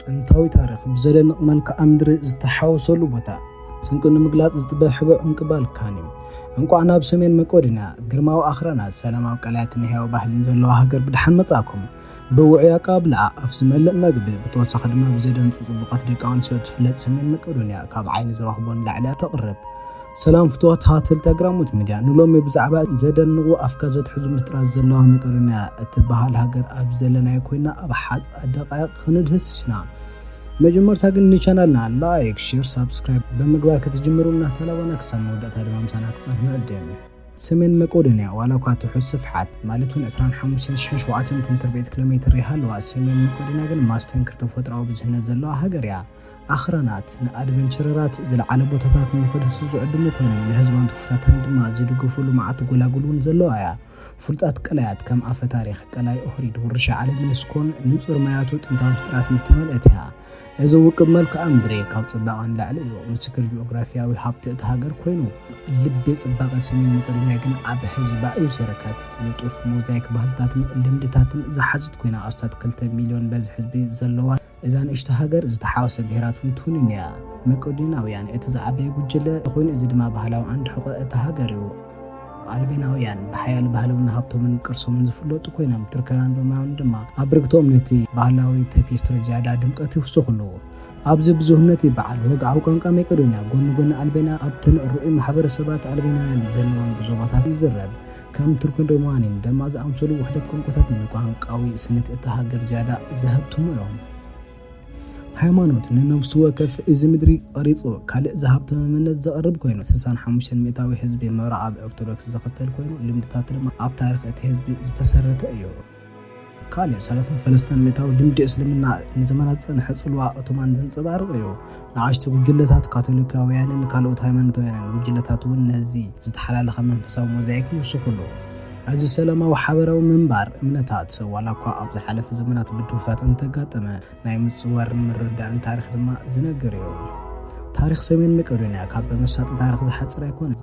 ጥንታዊ ታሪኽ ብዘደንቕ መልክዓ ምድሪ ዝተሓወሰሉ ቦታ ስንቂ ንምግላጽ ዝተበሕበ ዕንቂ ባልካን እዩ። እንቋዕ ናብ ሰሜን መቄዶንያ ግርማዊ ኣኽራናት ሰላማዊ ቀላያትን ህያው ባህልን ዘለዋ ሃገር ብድሓን መጻእኩም። ብውዑይ ኣቀባብላ ኣፍ ዝመልእ መግቢ ብተወሳኺ ድማ ብዘደንጹ ጽቡቓት ደቂ ኣንስትዮ እትፍለጥ ሰሜን መቄዶንያ ካብ ዓይኒ ዝረኽቦ ንላዕሊ እያ ተቕርብ። ሰላም ፍትዋት ሃተልቲ ኣግራሞት ሚድያ ንሎሚ ብዛዕባ ዘደንቑ ኣፍካ ዘትሕዙ ምስጢራት ዘለዋ መቄዶንያ እትበሃል ሃገር ኣብ ዘለናዮ ኮይና ኣብ ሓፃ ደቃይቕ ክንድህስስ ኢና። መጀመርታ ግን ንቻናልና ላይክ፣ ሼር፣ ሳብስክራይብ ብምግባር ክትጅምሩ እናተላበና ክሳብ መወዳእታ ድማ ምሳና ክፀንሑ ንዕድም። ሰሜን መቄዶንያ ዋላ እኳ ትሑት ስፍሓት ማለት እውን 25,700 ሜትር ቤት ኪሎሜትር ይሃለዋ፣ ሰሜን መቄዶንያ ግን ማስተንክር ተፈጥሮኣዊ ብዝህነት ዘለዋ ሃገር እያ። ኣኽራናት ንኣድቨንቸረራት ዝለዓለ ቦታታት ንኽድህሱ ዝዕድሙ ኮይኖም፣ ንህዝባን ትውፊታታን ድማ ዝድግፉ ልሙዓት ጎላጉል እውን ዘለዋ እያ። ፍሉጣት ቀላያት ከም ኣፈ ታሪኽ ቀላይ ኦህሪድ፣ ውርሻ ዓለም ዩኒስኮን ንጹር ማያቱ ጥንታዊ ምስጢራትን ዝተመልአት እያ። እዚ ውቁብ መልክኣ ምድሪ ካብ ጽባቐ ንላዕሊ እዩ ምስክር ጂኦግራፊያዊ ሃብቲ እታ ሃገር ኮይኑ፣ ልቢ ጽባቐ ሰሜን መቄዶንያ ግን ኣብ ህዝባ እዩ ዝርከብ። ንጡፍ ሞዛይክ ባህልታትን ልምድታትን ዝሓዘት ኮይና ኣስታት ክልተ ሚልዮን በዝሒ ህዝቢ ዘለዋን፣ እዛ ንእሽቶ ሃገር ዝተሓዋወሰ ብሄራት እውን ትውንን እያ። መቄዶንያውያን እቲ ዝዓበየ ጉጅለ ኮይኑ እዚ ድማ ባህላዊ ዓንዲ ሕቖ እታ ሃገር እዩ። ኣልቤናውያን ብሓያል ባህልውን ሃብቶምን ቅርሶምን ዝፍለጡ ኮይኖም ቱርካውያን ሮማውያን ድማ ኣብ ብርግትኦም ነቲ ባህላዊ ተፔስትሪ ዝያዳ ድምቀት ይውስኹሉ። ኣብዚ ብዙህነት በዓል ወግዓዊ ቋንቋ መቄዶንያ ጎኒ ጎኒ ኣልቤና ኣብተን ርኡይ ማሕበረሰባት ኣልቤናውያን ዘለወን ዞባታት ይዝረብ። ከም ቱርክን ሮማንያን ደማ ዝኣምሰሉ ውሕደት ቋንቋታት ንቋንቋዊ ስኒት እታ ሃገር ዝያዳ ዘሀብትሙ እዮም። ሃይማኖት ንነብሱ ወከፍ እዚ ምድሪ ቐሪጹ ካልእ ዝሃብተመ መንነት ዘቕርብ ኮይኑ፣ ስሳን ሓሙሽተን ሚእታዊ ህዝቢ ምብራቓብ ኦርቶዶክስ ዝኽተል ኮይኑ፣ ልምድታቱ ድማ ኣብ ታሪኽ እቲ ህዝቢ ዝተሰረተ እዩ። ካልእ ሰለስን ሰለስተን ሚእታዊ ልምዲ እስልምና ንዘመናት ዝጸንሐ ጽልዋ ኦቶማን ዘንጸባርቕ እዩ። ንኣሽቱ ጉጅለታት ካቶሊካውያንን ካልኦት ሃይማኖታውያንን ጉጅለታት እውን ነዚ ዝተሓላለኸ መንፈሳዊ ሞዛይክ ይውስኹሉ። እዚ ሰላማዊ ሓበራዊ ምንባር እምነታት፣ ዋላ እኳ ኣብ ዝሓለፈ ዘመናት ብድሆታት እንተጋጠመ፣ ናይ ምጽዋርን ምርድዳእን ታሪኽ ድማ ዝነግር እዩ። ታሪኽ ሰሜን መቄዶንያ ካብ መሳጢ ታሪኽ ዝሓጽር ኣይኮነን።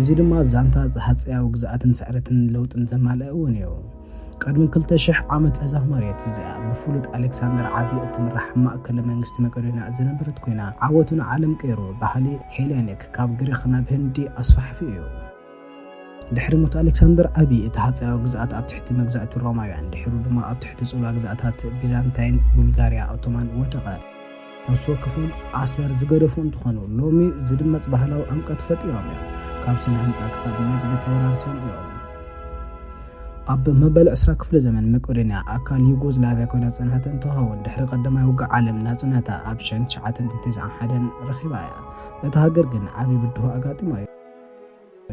እዚ ድማ ዛንታ ሃጸያዊ ግዝኣትን ስዕረትን ለውጥን ዘማልአ እውን እዩ። ቅድሚ ክልተ ሽሕ ዓመት እዛ መሬት እዚኣ ብፍሉጥ ኣሌክሳንደር ዓቢ እትምራሕ ማእከለ መንግስቲ መቄዶንያ ዝነበረት ኮይና፣ ዓወቱ ንዓለም ቀይሩ ባህሊ ሄሌኒክ ካብ ግሪኽ ናብ ህንዲ ኣስፋሕፊሑ እዩ። ድሕሪ ሞት ኣሌክሳንደር ዓቢ እቲ ሃጸያዊ ግዝኣት ኣብ ትሕቲ መግዛእቲ ሮማውያን፣ ድሒሩ ድማ ኣብ ትሕቲ ጽልዋ ግዝኣታት ቢዛንታይን፣ ቡልጋርያ፣ ኦቶማን ወደቐ። ነፍሲ ወከፎም ኣሰር ዝገደፉ እንትኾኑ ሎሚ ዝድመፅ ባህላዊ ዕምቀት ፈጢሮም እዮም። ካብ ስነ ህንፃ ክሳብ መግቢ ተወራሪሶም እዮም። ኣብ መበል ዕስራ ክፍለ ዘመን መቄዶንያ ኣካል ዩጎዝላቪያ ኮይና ዝፀንሐት እንትኸውን ድሕሪ ቀዳማይ ውግእ ዓለም ናፅነታ ኣብ ሸን ትሽዓተ ሚእትን ተስዓን ሓደን ረኺባ እያ። እታ ሃገር ግን ዓብዪ ብድሆ ኣጋጢማ እዩ።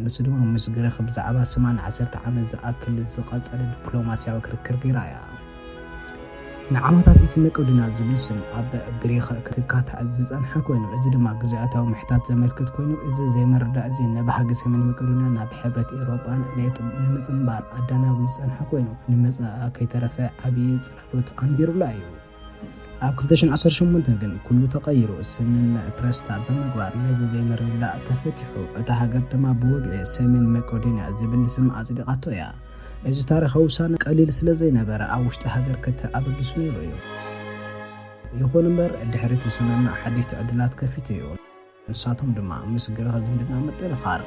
ንሱ ድማ ምስ ግሪኽ ብዛዕባ ስማ ንዓሰርተ ዓመት ዝኣክል ዝቐጸለ ዲፕሎማስያዊ ክርክር ገይራ እያ። ንዓመታት እቲ መቄዶንያ ዝብል ስም ኣብ ግሪኽ ክካታዕ ዝጸንሐ ኮይኑ፣ እዚ ድማ ግዝኣታዊ ምሕታት ዘመልክት ኮይኑ፣ እዚ ዘይምርዳእ'ዚ ንባህጊ ሰሜን መቄዶንያ ናብ ሕብረት ኤውሮጳን ኔቶን ንምጽንባር ኣዳናጒ ዝጸንሐ ኮይኑ፣ ንመጻኢ ከይተረፈ ዓቢ ጽላሎት ኣንቢሩላ እዩ። ኣብ 2018 ግን ኩሉ ተቐይሩ ስምምዕ ፕረስታ ብምግባር ነዚ ዘይምርድዳእ ተፈቲሑ እታ ሃገር ድማ ብወግዒ ሰሜን መቄዶንያ ዝብል ስም ኣጽዲቓቶ እያ። እዚ ታሪኻዊ ውሳነ ቀሊል ስለ ዘይነበረ ኣብ ውሽጢ ሃገር ክትዕ ኣበጊሱ ነይሩ እዩ። ይኹን እምበር ድሕሪ እቲ ስምምዕ ሓደሽቲ ዕድላት ከፊቱ እዩ። ንሳቶም ድማ ምስ ግርኸ ዝምድና ምጥንኻር፣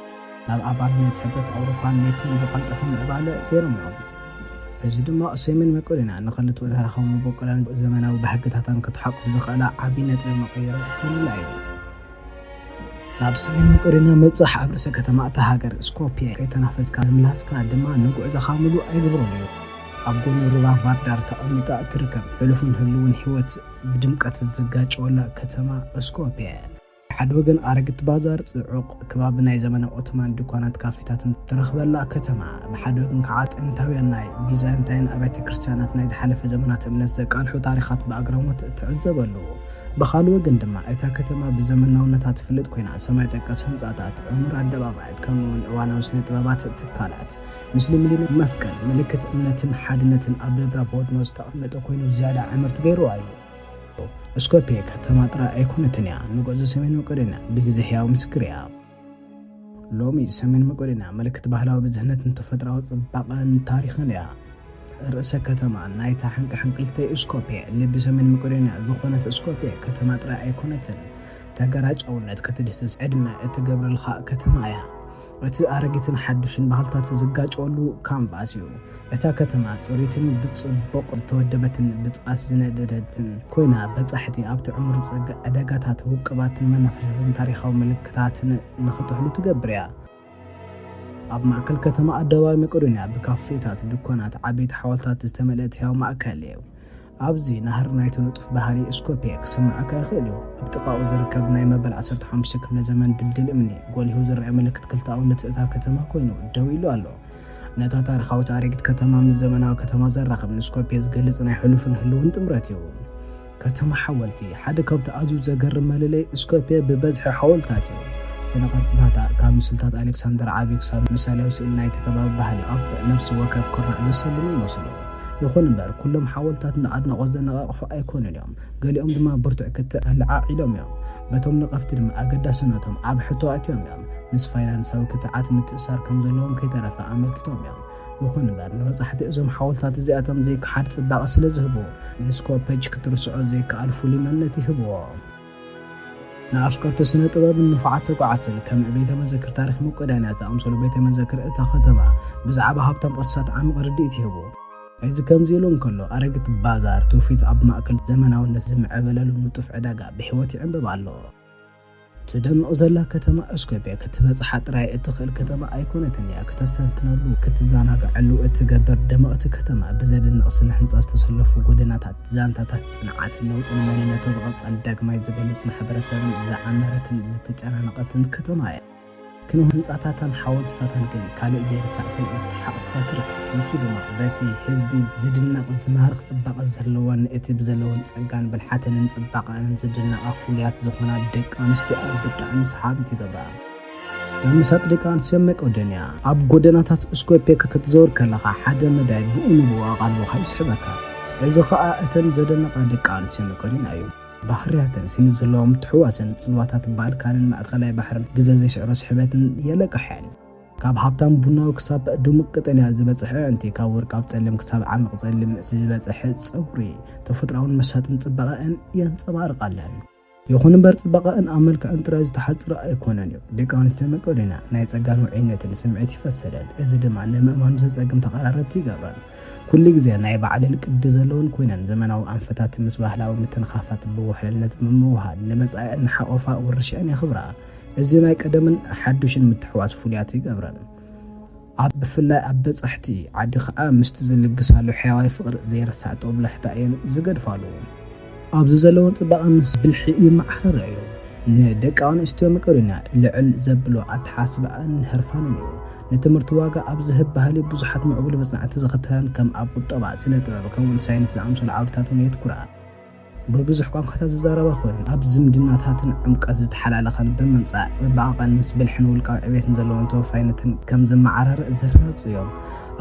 ናብ ኣባልነት ሕብረት ኣውሮፓን ኔቶን ዝቐልጠፈ ምዕባለ ገይሮም'ዮም። በዚ ድማ ሰሜን መቄዶንያ ንክልቲኡ ታሪኻዊ መበቆላን ዘመናዊ ባህግታታን ክትሓቁፍ ዘኽእላ ዓቢ ነጥቢ መቐይሮ ኮይኑላ'ዩ። ናብ ሰሜን መቄዶንያ ምብጻሕ ኣብ ርእሰ ከተማ እታ ሃገር ስኮፕየ ከይተናፈስካ ምምላስካ ድማ ንጉዕዞኻ ምሉእ ኣይገብሮን'ዩ። ኣብ ጎኒ ሩባ ቫርዳር ተቐሚጣ እትርከብ ሕሉፍን ህሉውን ህይወት፣ ብድምቀት ዝጋጨወላ ከተማ እስኮፕየ። ብሓደ ወገን ኣረግት ባዛር፣ ጽዑቕ ከባቢ ናይ ዘመነ ኦቶማን ድኳናት ካፌታትን እትረኽበላ ከተማ፣ ብሓደ ወገን ከኣ ጥንታውያን ናይ ቢዛንታይን ኣብያተ ክርስትያናት ናይ ዝሓለፈ ዘመናት እምነት ዘቃልሑ ታሪኻት ብኣግራሞት እትዕዘበሉ፣ ብኻልእ ወገን ድማ እታ ከተማ ብዘመናውነታ ትፍለጥ ኮይና ሰማይ ጠቀስ ህንጻታት፣ ዕሙር ኣደባባያት ከምኡ'ውን እዋናዊ ስነ-ጥበባት ትካላት ምስልምድና መስቀል ምልክት እምነትን ሓድነትን ኣብ ደብረ ፎድኖ ዝተቐመጠ ኮይኑ ዝያዳ ዕምርቲ ገይርዋ እዩ። እስኮፕየ ከተማ ጥራይ ኣይኮነትን እያ፣ ንጉዕዞ ሰሜን መቄዶንያ ብግዜ ሕያው ምስክር እያ። ሎሚ ሰሜን መቄዶንያ ምልክት ባህላዊ ብዝህነትን ተፈጥራዊ ጽባቐን ታሪኽን እያ። ርእሰ ከተማ ናይታ ሕንቅሕንቅልተይ እስኮፕየ ልቢ ሰሜን መቄዶንያ ዝኾነት እስኮፕየ ከተማ ጥራይ ኣይኮነትን፣ ተገራጫውነት ክትድህስስ ዕድመ እትገብረልካ ከተማ እያ። እቲ ኣረጊትን ሓዱሽን ባህልታት ዝጋጨወሉ ካንቫስ እዩ። እታ ከተማ ጽሪትን ብጽቡቕ ዝተወደበትን ብጽኣት ዝነደደትን ኮይና፣ በጻሕቲ ኣብቲ ዕሙር ዝጸግዕ ዕዳጋታት፣ ውቅባትን መናፈሻታትን ታሪኻዊ ምልክታትን ንኽጥሕሉ ትገብር እያ። ኣብ ማእከል ከተማ ኣደባባይ መቄዶንያ ብካፌታት፣ ድኳናት፣ ዓበይቲ ሓወልትታት ዝተመልአት ህያው ማእከል እዩ። ኣብዚ ናህሪ ናይቲ ንጡፍ ባህሪ ስኮርፒየ ክስምዓካ ይኽእል እዩ። ኣብ ጥቓኡ ዝርከብ ናይ መበል ዓሰርተ ሓሙሽተ ክፍለ ዘመን ድልድል እምኒ፣ ጎሊሁ ዝረኣ ምልክት ክልተኣውነት እታ ከተማ ኮይኑ ደው ኢሉ ኣሎ። ነታ ታሪኻዊት ኣረጊት ከተማ ምስ ዘመናዊ ከተማ ዘራኽብ ንስኮርፒየ ዝገልጽ ናይ ሕሉፍን ህሉውን ጥምረት እዩ። ከተማ ሓወልቲ፣ ሓደ ካብቲ ኣዝዩ ዘገርም መለለዪ ስኮርፒየ ብበዝሒ ሓወልትታት እዩ። ስነ-ቅርጽታታ፣ ካብ ምስልታት ኣሌክሳንደር ዓቢ ክሳብ ምሳልያዊ ስእሊ ናይቲ ከባቢ ባህሊ ኣብ ነፍሲ ወከፍ ኩርናዕ ዘሰልሙ ይመስሉ። ይኹን እምበር ኩሎም ሓወልትታት ንኣድናቖት ዘነቓቕሑ ኣይኮኑን እዮም፣ ገሊኦም ድማ ብርቱዕ ክትዕ ኣለዓዒሎም እዮም። በቶም ነቐፍቲ ድማ ኣገዳስነቶም ኣብ ሕቶ ኣእትዮም እዮም፣ ምስ ፋይናንሳዊ ክትዓት ምትእስሳር ከም ዘለዎም ከይተረፈ ኣመልኪቶም እዮም። ይኹን እምበር ንበጻሕቲ እዞም ሓወልትታት እዚኣቶም ዘይከሓድ ጽባቐ ስለ ዝህቡ፣ ንስኮፐጅ ክትርስዖ ዘይከኣል ፍሉይ መንነት ይህብዎ። ንኣፍቀርቲ ስነ ጥበብን ንፉዓት ተጓዓዝትን ከም ቤተ መዘክር ታሪኽ መቄዶንያ ዝኣምሰሉ ቤተ መዘክር እታ ከተማ ብዛዕባ ሃብታም ቅርስታት ዓሚቕ ርድኢት ይህቡ። እዚ ከምዚ ኢሉ እንከሎ፣ ኣረጊት ባዛር ትውፊት ኣብ ማእከል ዘመናውነት ዝምዕበለሉ ንጡፍ ዕዳጋ ብሕይወት ይዕምብብ ኣሎ። ትደምቕ ዘላ ከተማ እስኮፕየ ክትበጽሓ ጥራይ እትኽእል ከተማ ኣይኮነትን እያ። ክተስተንትነሉ፣ ክትዘናግዐሉ እትገብር ድምቕቲ ከተማ፣ ብዘደንቕ ስነ ህንጻ ዝተሰለፉ ጎደናታት፣ ዛንታታት ጽንዓት፣ ለውጢ ንመንነቱ ብቐጻሊ ዳግማይ ዝገልጽ ማሕበረሰብን ዝዓመረትን ዝተጨናነቐትን ከተማ እያ። ክንው ህንጻታታን ሓወልትሳታን ግን ካልእ ዘይርሳዕ ትርኢት ሰሓቕ ይፈጥር፣ ንሱ ድማ በቲ ህዝቢ ዝድነቕ ዝማርኽ ጽባቐ ዘለወን እቲ ብዘለወን ጸጋን ብልሓተንን ጽባቐኣንን ዝድነቓ ፍሉያት ዝኾና ደቂ ኣንስትዮኣ ብጣዕሚ ሰሓቢት ይገብራ። ምምሳጥ ደቂ ኣንስትዮ መቄዶንያ። ኣብ ጐደናታት ስኮፔ ክትዘውር ከለኻ፣ ሓደ መዳይ ብኡ ንብኡ ኣቓልቦኻ ይስሕበካ። እዚ ኸኣ እተን ዘደነቓ ደቂ ኣንስትዮ መቄዶንያ እዩ። ባህርያተን፣ ስኒ ዘለዋ ምትሕውዋሰን፣ ጽልዋታት ባልካንን ማእከላይ ባሕርን፣ ግዘ ዘይስዕሮ ስሕበትን የለቅሐን። ካብ ሃብታም ቡናዊ ክሳብ ድሙቕ ቀጠልያ ዝበጽሐ ኣዒንቲ፣ ካብ ወርቃዊ ጸሊም ክሳብ ዓሚቕ ጸሊም ዝበጽሐ ጸጕሪ፣ ተፈጥሮኣውን መሳጥን ጽባቐኣን የንጸባርቓለን። ይኹን እምበር ጽባቐኣን ኣብ መልክዐን ጥራይ ዝተሓጽረ ኣይኮነን እዩ። ደቂ ኣንስትዮ መቄዶንያ ናይ ጸጋን ውዑይነትን ስምዒት ይፈሰለን፣ እዚ ድማ ንምእማኑ ዘጸግም ተቐራረብቲ ይገብረን። ኩሉ ግዜ ናይ ባዕለን ቅዲ ዘለወን ኮይነን፣ ዘመናዊ ኣንፈታት ምስ ባህላዊ ምትንኻፋት ብውሕልነት ብምውህሃድ ንመጻኢኣን እናሓቖፋ ውርሻኣን የኽብራ። እዚ ናይ ቀደምን ሓዱሽን ምትሕውዋስ ፍሉያት ይገብረን። ኣብ ብፍላይ ኣብ በጻሕቲ ዓዲ ከኣ ምስቲ ዝልግሳሉ ሕያዋይ ፍቕሪ ዘይርሳዕ ጦብላሕታ እየን ዝገድፋሉ። ኣብዚ ዘለወን ጽባቐ ምስ ብልሒ ይመዓራረያዮ። ንደቂ ኣንስትዮ መቄዶንያ ልዕል ዘብሎ ኣተሓሳስባኣን ህርፋንን እዩ። ንትምህርቲ ዋጋ ኣብ ዝህብ ባህሊ ብዙሓት ምዕቡል መጽናዕቲ ዝኽተላን ከም ኣብ ቁጠባ፣ ስነ-ጥበብ ከምኡውን ሳይንስ ዝኣምሰሉ ዓውድታትውን የትኩራ። ብብዙሕ ቋንቋታት ዝዛረባ ኮይነን ኣብ ዝምድናታትን ዕምቀት ዝተሓላለኸን ብምምፃእ ፅባቐቐን ምስ ብልሕን ውልቃዊ ዕቤትን ዘለወን ተወፋይነትን ከም ዝመዓራረእ ዘረጋግፁ እዮም።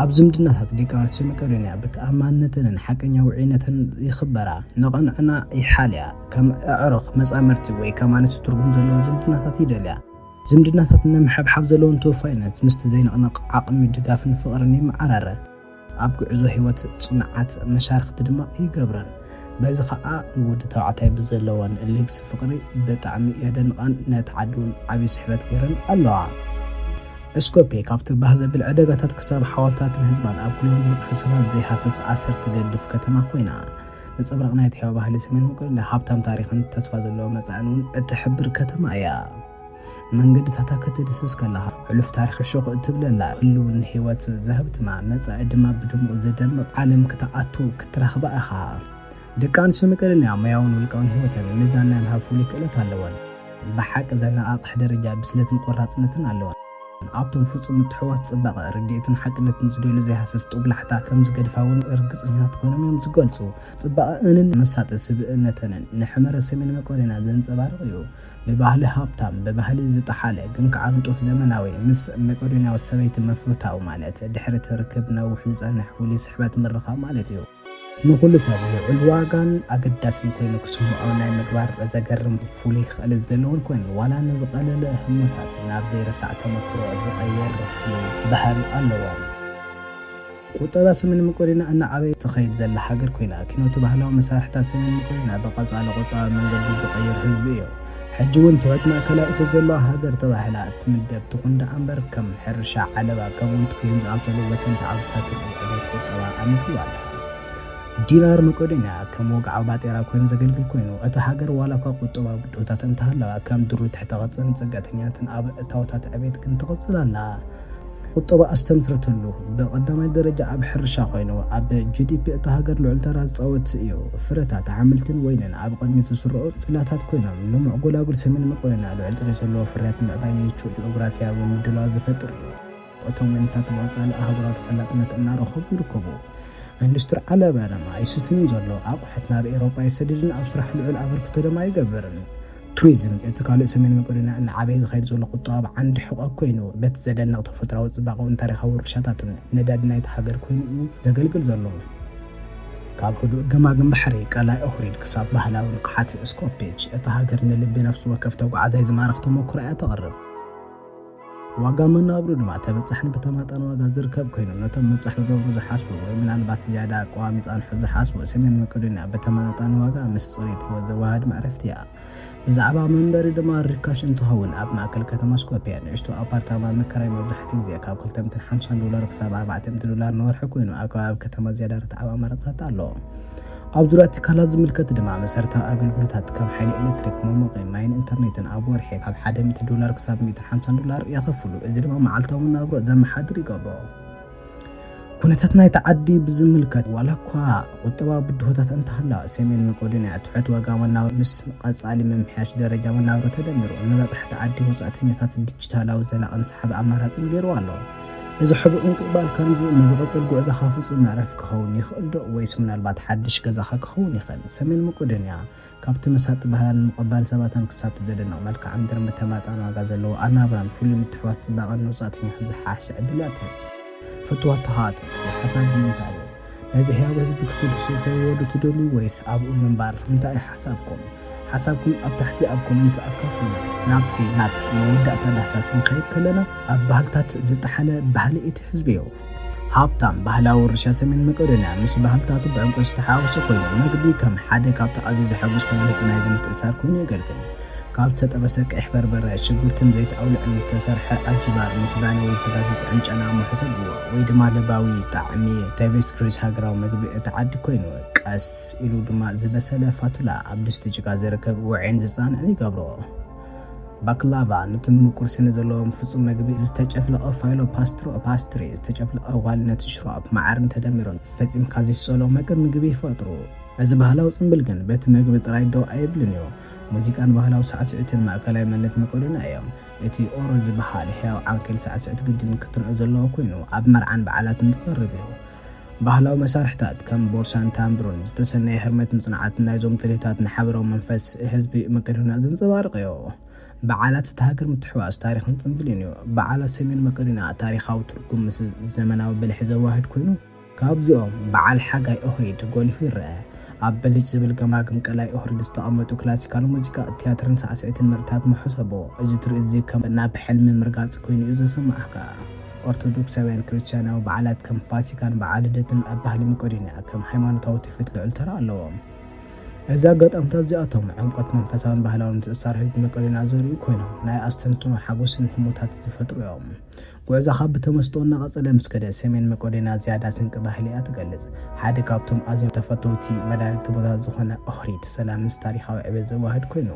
ኣብ ዝምድናታት ደቂ ኣንስትዮ መቄዶንያ ብተኣማንነተንን ሓቀኛ ውዑይነተን ይኽበራ፣ ንቕንዕና ይሓልያ፣ ከም ኣዕሩኽ፣ መፃምድቲ ወይ ከም ኣንስቲ ትርጉም ዘለዎ ዝምድናታት ይደልያ። ዝምድናታት ንምሕብሓብ ዘለወን ተወፋይነት ምስቲ ዘይንቕነቕ ዓቕሚ ድጋፍን ፍቕርን ይመዓራረ። ኣብ ጉዕዞ ህይወት ጽኑዓት መሻርኽቲ ድማ ይገብረን። በዚ ከኣ ንወዲ ተባዕታይ ብዘለወን ልግሲ ፍቕሪ ብጣዕሚ የደንቓን ነቲ ዓዲ'ውን ዓቢ ስሕበት ገይረን ኣለዋ። እስኮፔ ካብቲ ባህ ዘብል ዕደጋታት ክሳብ ሓወልታትን ህዝባን ኣብ ኩሎም ዝበጽሑ ሰባት ዘይሃስስ ኣሰር ትገድፍ ከተማ ኮይና፣ ነጸብራቕ ናይቲ ህያው ባህሊ ሰሜን ምቅሉል፣ ሃብታም ታሪኽን ተስፋ ዘለዎ መጻእን እውን እትሕብር ከተማ እያ። መንገድታታ ክትድህስስ ከለኻ፣ ሕሉፍ ታሪኽ ሹኽ እትብለላ፣ ህሉው ንህይወት ዘሀብትማ፣ መጻኢ ድማ ብድሙቕ ዘደምቕ ዓለም ክትኣቱ ክትረኽባ ኢኻ። ደቂ ኣንስትዮ መቄዶንያ ሞያውን ውልቃውን ህይወተን ሚዛን ናይ ምሃብ ፍሉይ ክእለት ኣለወን። ብሓቂ ዘነቓቕሕ ደረጃ ብስለትን ቆራጽነትን ኣለወን። ኣብቶም ፍጹም ምትሕውዋስ ጽባቐ፣ ርድኢትን ሓቅነትን ዝደልዩ ዘይሃስስ ጦብላሕታ ከም ዝገድፋ'ውን ርግጸኛታት ኮይኖም እዮም ዝገልጹ። ጽባቐኣንን መሳጢ ስብእነተንን ንሕመረ ሰሜን መቄዶንያ ዘንጸባርቕ እዩ። ብባህሊ ሃብታም፣ ብባህሊ ዝጠሓለ ግን ከኣ ንጡፍ ዘመናዊ፣ ምስ መቄዶንያዊት ሰበይቲ ምፍታው ማለት፣ ድሕሪ እቲ ርክብ ነዊሕ ዝጸንሕ ፍሉይ ስሕበት ምርኻብ ማለት እዩ። ንኹሉ ሰብ ልዑል ዋጋን ኣገዳስን ኮይኑ ክስምዖ ናይ ምግባር ዘገርም ፍሉይ ክእለት ዘለዎን ኮይኑ፣ ዋላ ንዝቐለለ ህሞታት ናብ ዘይረሳዕ ተመኩሮ ዝቐየር ፍሉይ ባህሪ ኣለዎን። ቁጠባ ሰሜን መቄዶንያ እናዓበየት ትኸይድ ዘላ ሃገር ኮይና፣ ኪኖቲ ባህላዊ መሳርሒታት ሰሜን መቄዶንያ ብቐጻሊ ቁጠባዊ መንገዲ ዝቐይር ህዝቢ እዩ። ሕጂ እውን ትሑት ማእከላይ እቶት ዘለዋ ሃገር ተባሂላ እትምደብ ትኹን ደኣ እምበር፣ ከም ሕርሻ፣ ዓለባ፣ ከምኡ እውን ቱሪዝም ዝኣምሰሉ ወሰንቲ ዓውድታት ርኡይ ዕብየት ቁጠባ ኣመዝጊባ ኣላ። ዲናር መቄዶንያ ከም ወግዓዊ ባጤራ ኮይኑ ዘገልግል ኮይኑ፣ እታ ሃገር ዋላኳ ቁጠባዊ ብድሆታት እንተሃለዋ፣ ከም ድሩት ትሕተ ቅርጽን ጽግዕተኛነትን ኣብ እታወታት ዕብየት ግን ትቕጽል ኣላ። ቁጠባ ኣስተምስርትሉ። ብቐዳማይ ደረጃ ኣብ ሕርሻ ኮይኑ፣ ኣብ ጂዲፒ እታ ሃገር ልዑል ተራ ዝጻወት እዩ። ፍረታት ኣሕምልትን ወይንን ኣብ ቕድሚት ዝስርዑ ጽላታት ኮይኖም፣ ልሙዕ ጎላጉል ሰሜን መቄዶንያ ልዑል ጥሪት ዘለዎ ፍርያት ምዕባይ ምቹእ ጂኦግራፊያዊ ምድላዋት ዝፈጥር እዩ። እቶም ወይንታት ብቐጻሊ ኣህጉራዊ ተፈላጥነት እናረኸቡ ይርከቡ። ኢንዱስትሪ ዓለባ ድማ ኣይስስንን ዘሎ፣ ኣቑሑት ናብ ኤውሮጳ ይሰድድን ኣብ ስራሕ ልዑል ኣበርክቶ ድማ ይገብርን። ቱሪዝም እቲ ካልእ ሰሜን መቄዶንያ እናዓበየ ዝኸይድ ዘሎ ቁጠባዊ ዓንዲ ሕቖ ኮይኑ፣ በቲ ዘደንቕ ተፈጥሮኣዊ ጽባቐኡን ታሪኻዊ ውርሻታቱን ነዳዲ ናይታ ሃገር ኮይኑ'ዩ ዘገልግል ዘሎ። ካብ ህዱእ ገማግም ባሕሪ ቀላይ ኦህሪድ ክሳብ ባህላዊ ንቕሓት ስኮፔች፣ እታ ሃገር ንልቢ ነፍሲ ወከፍ ተጓዓዛይ ዝማርኽ ተመኩሮ እያ ተቕርብ። ዋጋ መናብሩ ድማ ተበፃሕን ብተማጣን ዋጋ ዝርከብ ኮይኑ ነቶም ምብፃሕ ክገብሩ ዝሓስቡ ወይ ምናልባት ዝያዳ ኣቋዋሚ ፃንሖት ዝሓስቡ ሰሜን መቄዶንያ ብተመጣጣኒ ዋጋ ምስ ፅሬት ህይወት ዘወሃህድ መዕረፍቲ እያ። ብዛዕባ መንበሪ ድማ ርካሽ እንትኸውን ኣብ ማእከል ከተማ ስኮፒያ ንእሽቶ ኣፓርታማ ምክራይ መብዛሕትኡ ግዜ ካብ 250 ዶላር ክሳብ 400 ዶላር ንወርሒ ኮይኑ ኣብ ከባቢ ከተማ ዝያዳ ርትዓዊ ኣማራፅታት ኣሎ። ኣብ ዙርያ ትካላት ዝምልከት ድማ መሰረታዊ ኣገልግሎታት ከም ሓይሊ ኤሌክትሪክ፣ መሞቒ፣ ማይን ኢንተርኔትን ኣብ ወርሒ ካብ ሓደ ሚእቲ ዶላር ክሳብ ሚእትን ሓምሳን ዶላር የኸፍሉ። እዚ ድማ መዓልታዊ መናብሮ ዘመሓድር ይገብሮ። ኩነታት ናይቲ ዓዲ ብዝምልከት ዋላ እኳ ቁጠባዊ ብድሆታት እንተሃለዋ ሰሜን መቄዶንያ ትሑት ዋጋ መናብሮ ምስ ቀጻሊ ምምሕያሽ ደረጃ መናብሮ ተደሚሩ ንመብዛሕቲ ዓዲ ወጻእተኛታት ዲጂታላዊ ዘላቕን ሰሓቢ ኣማራጽን ገይርዋ ኣሎ። እዚ ሕቡእ ምቅባል ከምዚ ንዝቕጽል ጉዕዞኻ ፍጹም መዕረፊ ክኸውን ይኽእልዶ? ወይስ ምናልባት ሓድሽ ገዛኻ ክኸውን ይኽእል? ሰሜን መቄዶንያ፣ ካብቲ መሳጢ ባህላን ምቕባል ሰባታን ክሳብቲ ዘደንቕ መልክዓ ምድርን ብተመጣጣኒ ዋጋ ዘለዎ ኣናብራን ፍሉይ ምትሕውዋስ ጽባቐን ንወጻእተኛታት ዝሓሸ ዕድል እያ ትህብ። ፍትወትኻ ትሕቲ ሓሳብ ንምንታይ እዩ? ነዚ ሕያው ህዝቢ ክትድሱ ዘወዱ ትደልዩ ወይስ ኣብኡ ምንባር እንታይ እዩ ሓሳብኩም ሓሳብኩም ኣብ ታሕቲ ኣብ ኮመንት ኣካፍሉ። ናብቲ ናብ መወዳእታ ዳህሳስ ክንኸይድ ከለና ኣብ ባህልታት ዝጠሓለ ባህሊ እቲ ህዝቢ እዩ። ሃብታም ባህላዊ ውርሻ ሰሜን መቄዶንያ ምስ ባህልታቱ ብዕምቆት ዝተሓዋወሰ ኮይኑ መግቢ ከም ሓደ ካብቲ ኣዝዩ ዘሐጉስ መግለጺ ናይዚ ምትእስሳር ኮይኑ የገልግል። ካብ ዝተጠበሰ ቀይሕ በርበረ፣ ሽጉርትን ዘይት ኣውሊዕን ዝተሰርሐ ኣልፊባር ምስ ባኒ ወይ ስጋ ዝጥዕም ጨና ምሑተግዎ፣ ወይ ድማ ለባዊ ጣዕሚ ታይቨስክሪስ ሃገራዊ መግቢ እታ ዓዲ ኮይኑ፣ ቀስ ኢሉ ድማ ዝበሰለ ፋቱላ ኣብ ድስቲ ጭቃ ዝርከብ ውዑይን ዝጸንዕን ይገብሮ። ባክላቫ ኑቲ ምቁር ስኒ ዘለዎም ፍጹም መግቢ ዝተጨፍለቐ ፋይሎ ፓስትሮ፣ ፓስትሪ፣ ዝተጨፍለቐ ዋልነት ሽሮፕ፣ መዓርን ተደሚሩ ፈጺምካ ዘይሰሎ መግብ ምግቢ ይፈጥሩ። እዚ ባህላዊ ጽምብል ግን በቲ መግቢ ጥራይ ደው ኣይብልን እዩ። ሙዚቃን ባህላዊ ሳዕስዒትን ማእከላይ መንነት መቄዶንያ እዮም። እቲ ኦሮ ዝበሃል ሕያው ዓንኬል ሳዕስዒት ግድን ክትርኦ ዘለዎ ኩይኑ ኣብ መርዓን በዓላትን ዝቐርብ እዩ። ባህላዊ መሳርሕታት ከም ቦርሳን ታምብሩን ዝተሰነየ ህርመትን ጽንዓትን ናይዞም ትልሂታት ንሓበራዊ መንፈስ ህዝቢ መቄዶንያ ዘንጸባርቕ እዩ። በዓላት እታ ሃገር ምትሕውዋስ ታሪኽን ጽምብልን እዩ። በዓላት ሰሜን መቄዶንያ ታሪኻዊ ትርጉም ምስ ዘመናዊ ብልሒ ዘዋህድ ኩይኑ፣ ካብዚኦም በዓል ሓጋይ ኦህሪድ ጎሊሁ ይረኣ። ኣብ ብልጭ ዝብል ገማግም ቀላይ ኦህሪድ ዝተቐመጡ ክላሲካል ሙዚቃ፣ ትያትርን ሳዕስዒትን ምርኢታት መሐሰቦ እዚ ትርኢት'ዚ ከም ናብ ሕልሚ ምርጋጽ ኮይኑ'ዩ ዘሰማዓካ። ኦርቶዶክሳውያን ክርስትያናዊ በዓላት ከም ፋሲካን በዓል ልደትን ኣብ ባህሊ መቄዶንያ ከም ሃይማኖታዊ ትውፊት ልዑል ተራ ኣለዎም። እዚ ኣጋጣምታት እዚኣቶም ዕምቆት መንፈሳውን ባህላውን ምትእስሳር ህዝቢ መቄዶንያ ዘርእዩ ኮይኖም ናይ ኣስተንትኖ ሓጎስን ህሞታትን ዝፈጥሩ'ዮም። ጉዕዞኻ ብተመስጦ እናቐጸለ ምስ ከደ፣ ሰሜን መቄዶንያ ዝያዳ ስንቂ ባህሊ'ያ ትገልጽ። ሓደ ካብቶም ኣዝዮም ተፈተውቲ መዳርግቲ ቦታታት ዝኾነ ኦህሪድ ሰላም ምስ ታሪኻዊ ዕብየት ዘወሃህድ ኮይኑ፣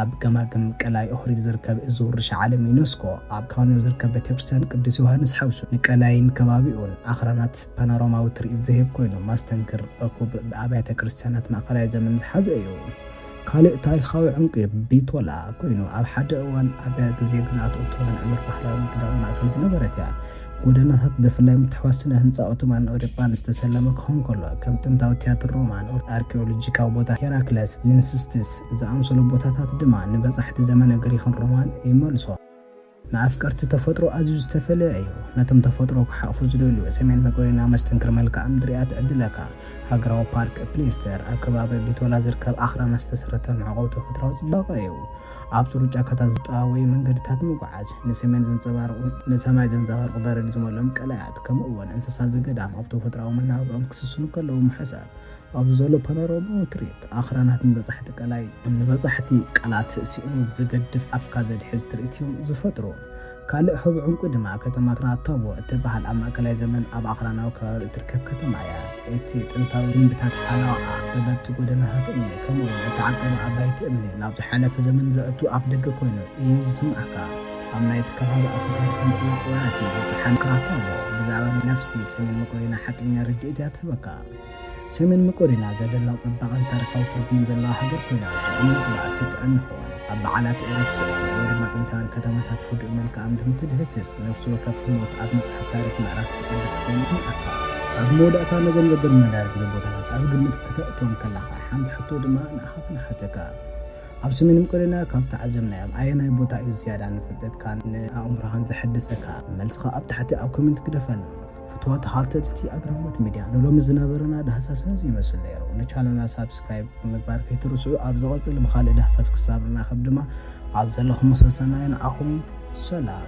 ኣብ ገማግም ቀላይ ኦህሪድ ዝርከብ እዚ ውርሻ ዓለም ዩነስኮ፣ ኣብ ካንዮ ዝርከብ ቤተክርስትያን ቅዱስ ዮሃንስ ሓውሱ፣ ንቀላይን ከባቢኡን ኣኽራናት ፓኖራማዊ ትርኢት ዝህብ ኮይኑ፣ ማስተንክር ርኩብ ብኣብያተ ክርስትያናት ማእከላይ ዘመን ዝሓዘ እዩ። ካልእ ታሪኻዊ ዕንቊ ቢቶላ ኮይኑ፣ ኣብ ሓደ እዋን ኣብ ግዜ ግዝኣት ኦቶማን ዕምር ባሕራዊ ንግዳዊ ማእከል ዝነበረት እያ። ጎደናታት ብፍላይ ምትሕውዋስ ስነ ህንጻ ኦቶማንን ኣውሮጳን ዝተሰለመ ክኸውን ከሎ፣ ከም ጥንታዊ ትያትር ሮማን፣ ኣርኪኦሎጂካዊ ቦታ ሄራክለስ፣ ሊንስስቲስ ዝኣመሰሉ ቦታታት ድማ ንበጻሕቲ ዘመነ ግሪኽን ሮማን ይመልሶም። ንኣፍቀርቲ ተፈጥሮ ኣዝዩ ዝተፈለየ እዩ። ነቶም ተፈጥሮ ክሓቑፉ ዝደልዩ፣ ሰሜን መቄዶንያ መስተንክር መልክኣ ምድሪ እያ ትዕድለካ። ሃገራዊ ፓርክ ፕሊስተር፣ ኣብ ከባቢ ቢቶላ ዝርከብ ኣኽራናት ዝተሰረተ መዕቆቢ ተፈጥሮኣዊ ጽባቐ እዩ። ኣብ ጽሩይ ጫካታት ዝጠዋወዩ መንገድታት ምጉዓዝ፣ ንሰሜን ዘንጸባርቑ፣ ንሰማይ ዘንጸባርቑ በረድ ዝመልኦም ቀላያት፣ ከምኡ'ውን እንስሳ ዘገዳም ኣብ ተፈጥሮኣዊ መነባብሮኦም ክስስኑ ከለዉ ምሕሳብ፣ ኣብዚ ዘሎ ፓኖራማዊ ትርኢት ኣኽራናት ንበጻሕቲ ቀላይ፣ ንበጻሕቲ ቃላት ስኢኑ ዝገድፍ ኣፍካ ዘድሕዝ ትርኢት እዮም ዝፈጥሩ። ካልእ ሕቡእ ዕንቊ ድማ ከተማትና ታቦ እትበሃል ኣብ ማእከላይ ዘመን ኣብ ኣኽራናዊ ከባቢ እትርከብ ከተማ እያ። እቲ ጥንታዊ ግምብታት ሓለቓኣ፣ ጸበብቲ ጎደናታት እምኒ፣ ከምኡ'ውን እቲ ዓቀባ ኣባይቲ እምኒ ናብ ዝሓለፈ ዘመን ዘእቱ ኣፍደገ ኰይኑ እዩ ዝስምዓካ። ኣብ ናይቲ ከባቢ ኣፈታሪኽ ንጹር ጽውያት እዩ ዝጠሓን። ክራታቮ ብዛዕባ ነፍሲ ሰሜን መቄዶንያ ሓቀኛ ርድኢት እያ ትህበካ። ሰሜን መቄዶንያ ዘደላ ጽባቐን ታሪኻዊ ትርጉምን ዘለዋ ሃገር ኮይና ርግእ ምንቅላዕ ትጥዕም ይኸውን። ኣብ በዓላት ኡሮ ትስዕስዕ ወይ ድማ ጥንታውያን ከተማታት ህዱእ መልክኣ ምድርን ትድህስስ፣ ነፍሲ ወከፍ ህሞት ኣብ መጽሓፍ ታሪኽ ምዕራፍ ዝቕድሕ ኮይኑ ይስምዓካ። ኣብ መወዳእታ ነዞም ዘገርሙ መዳርግቲ ቦታታት ኣብ ግምት ከተእትዎም ከለኻ ሓንቲ ሕቶ ድማ ንኣኻ ክንሓተካ። ኣብ ሰሜን መቄዶንያ ካብ ዝተዓዘብናዮም ኣየናይ ቦታ እዩ ዝያዳ ንፍልጠትካን ንኣእምሮኻን ዘሐድሰካ? መልስኻ ኣብ ታሕቲ ኣብ ኮመንት ግደፈልና። ፍትዋ ተኻልተትቲ ኣግራሞት ሚድያ ንሎሚ ዝነበረና ዳህሳስ ነዚ ይመስል ነይሩ። ንቻነልና ሳብስክራይብ ምግባር ከይትርስዑ ኣብ ዝቐጽል ብኻልእ ዳህሳስ ክሳብ ንራኸብ ድማ ኣብ ዘለኹም ሰሰናዩ ንዓኹም ሰላም።